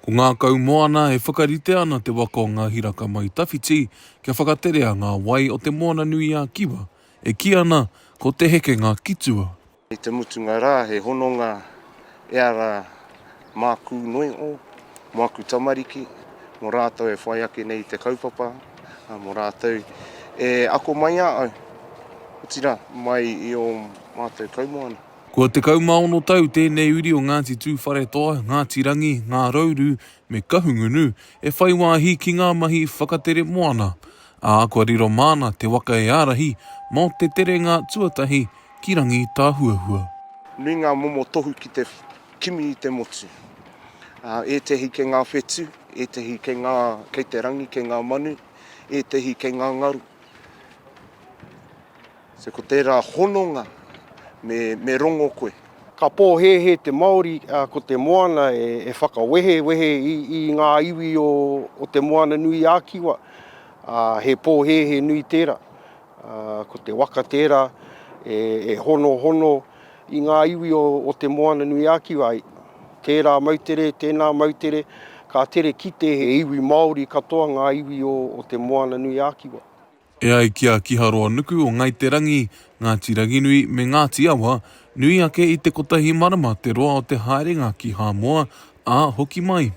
Ko ngā kaumoana e whakaritea ana te waka o ngā hiraka mai tawhiti kia whakaterea ngā wai o Te Moana-nui-a-Kiwa, e kī ana ko Te Hekenga ki Tua. Kei te mutunga rā he hononga e ara mākū noiʻo, mō aku tamariki, mō rātou e whai ake nei i te kaupapa, ā, mō rātou e ako mai a au, otirā, mai i ō mātou kaumoana. Kua 16 tau tēnei uri o Ngāti Tūwharetoa, Ngāti Rangi, Ngā Rauru me Kahungunu e whai wāhi ki ngā mahi whakatere moana, ā, kua riro māna te waka e ārahi mō te terenga tuatahi ki Rangi Tāhuahua. Nui ngā momo tohu ki te kimi i te motu. Ētehi kei ngā whetū, ētehi kei ngā, kei te rangi, kei ngā manu, ētehi kei ngā ngaru. So ko tērā hononga me rongo koe. Ka pōhēhē te Māori ko te moana e whakawehewehe i ngā iwi o Te Moana-nui-ā-Kiwa. He pōhēhē nui tērā. Ko te waka tērā e honohono i ngā iwi o Te Moana-nui-ā-Kiwa. Tērā moutere, tēnā moutere, ka tere kite he iwi Māori katoa ngā iwi o Te Moana-nui-ā-Kiwa. E ai ki a Kiharoa-nuku o Ngai Te Rangi, Ngāti Ranginui me Ngāti Awa, nui ake i te kotahi marama te roa o te haerenga ki Hāmoa, ā, hoki mai.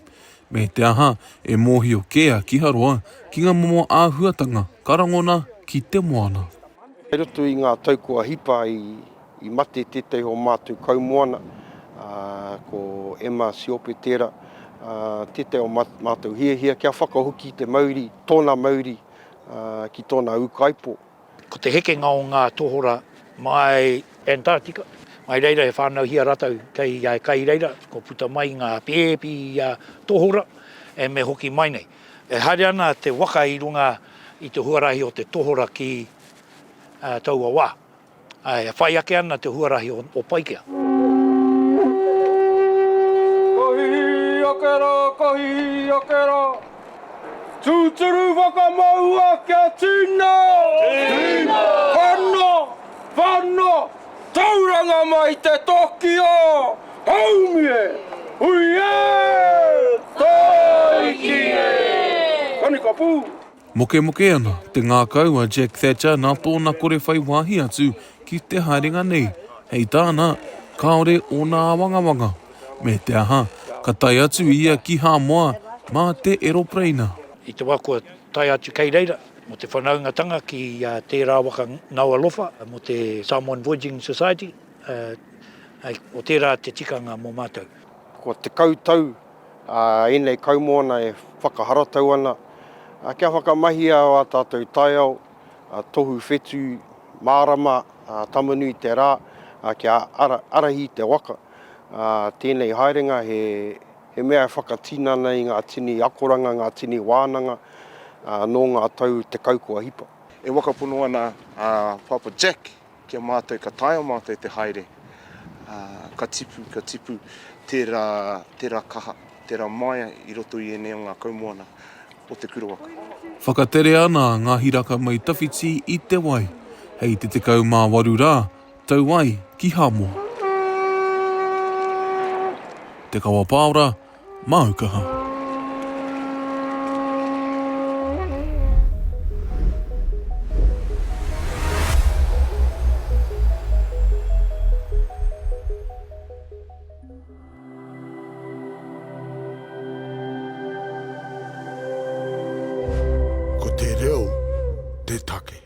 Me te aha, e mōhio kē a Kiharoa ki ngā momo āhuatanga ka rangona ki te moana. I roto i ngā tau kua hipa i mate tētahi o mātou kaumoana, ko Emma Siope tērā, tētahi o mātou hiahia kia whakahoki te mauri, tōna mauri ki tōna ūkaipō. Ko te hekenga o ngā tohora mai Antarctica, mai reira he whānauhia rātou kei a kai reira, kua puta mai ngā pēpi tohora e me hoki mai nei. E haere ana te waka i runga i te huarahi o te tohora ki taua wā. E whai ake ana te huarahi o Paikea. Kohi ake rā, kohi ake rā. Tūturu whakamaua kia tīna! Tīna! Whana! Whana! Tauranga mai te toki o Haumi e! Hui e! Taiki e! Kanikapū! Mokemoke ana te ngākau a Jack Thatcher nā tōna kore whai wāhi atu ki te haerenga nei. Hei tāna, kāore ōna āwangawanga. Me te aha, ka tae atu ia ki Hāmoa mā te eropereina. I te wā kua tae atu kei reira mō te whanaungatanga ki tērā waka ngaua lofa mō te Samoan Voyaging Society, o tērā te tikanga mō mātou. Kua tekau tau Ā ēnei kaumoana e whakaharatau ana kia whakamahia ā tātou taiao, tohu whetū, mārama, tamanui te rā, kia arahi te waka. Tēnei haerenga he mea e whakatinana i ngā tini akoranga, ngā tini wānanga nō ngā tau tekau kua hipa. E wakapono ana a Pāpā Jack Ki a mātou ka taea mātou te haere, ā, ka tipu, ka tipu tērā, tērā kaha, tērā māia i roto i ēnei o ngā kaumoana o Te Kurowaku. Whakatere ana ngā hiraka mai tawhiti i te wai. Hei te 18 rā, tau ai ki Hamoa. Te Kawa Paora, Māu kaha. Ko te reo te take.